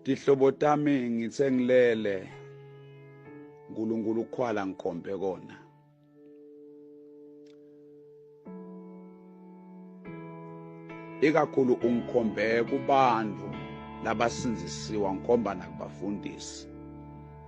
Tihlobo tami ngithe ngilele uNkulunkulu ukhwala ngikhombe kona ikakhulu ungikhombe kubantu labasinzisiwa ngikhomba nakubafundisi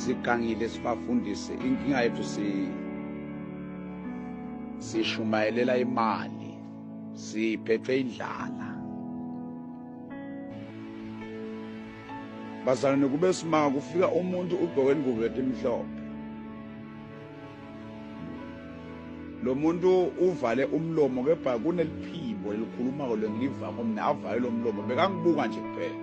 sigangile sibafundise inkinga yethu si sishumayelela imali siphethwe indlala bazalwane kube simanga kufika umuntu ugqoke ingubo etimhlophe lo muntu uvale umlomo kepha kuneliphimbo elikhuluma-ko lengilivako mina avale lo mlomo bekangibuka nje kuphela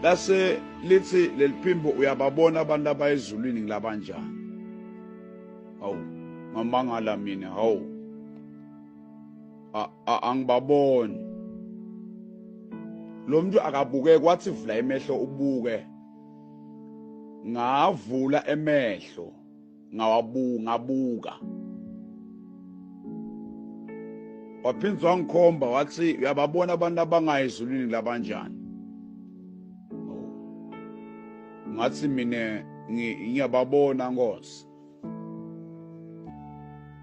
lase lithi leliphimbo uyababona abantu abayezulwini ngilabanjani hawu ngamangala mina hawu angibaboni lo muntu akabuke kwathi vula imehlo ubuke ngavula emehlo ngawabuka waphindza wangikhomba wathi uyababona abantu abangayi ezulwini labanjani ngathi mina ngiyababona nkosi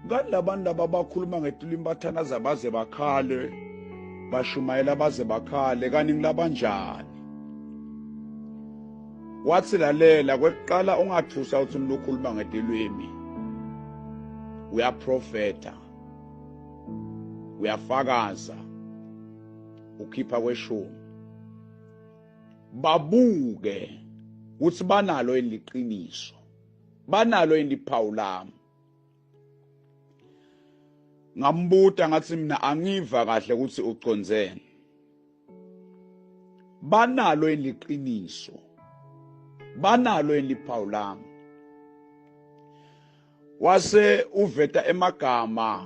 ngani labantu laba bakhuluma ngetulimi bathanaza baze bakhale bashumayela baze bakhale kanti ngilabanjani wathi lalela kwekuqala ungathusa ukuthi umuntu ukhuluma ngetilwimi uyaprofeta uyafakaza ukhipha kweshumi babuke ukuthi banalo eliqiniso banalo yini iphawu lami ngambuta ngathi mina angiva kahle ukuthi ucondzeni banalo yini liqiniso banalo yini liphawu lami wase uveta emagama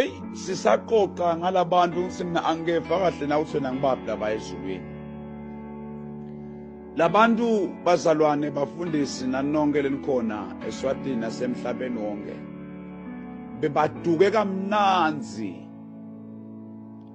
eyi sisaxoxa ngalabantu ukuthi mina angikeva kahle na ukuthi wena ngibaphi laba ezulwini labantu bazalwane bafundisi nanonke lenikhona eswatini nasemhlabeni wonke bebaduke kamnanzi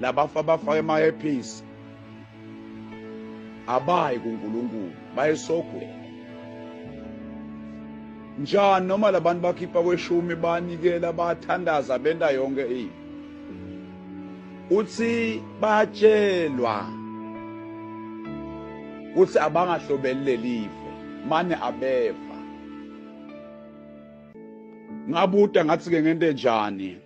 Labafa bafake ama earpiece abayi kuNkulunkulu bayesogweni njani noma labantu bakhipha kweshumi banikela bathandaza benta yonke into uthi batshelwa uthi abangahlobeli lelive mane abeva ngabuda ngathi ke ngento enjani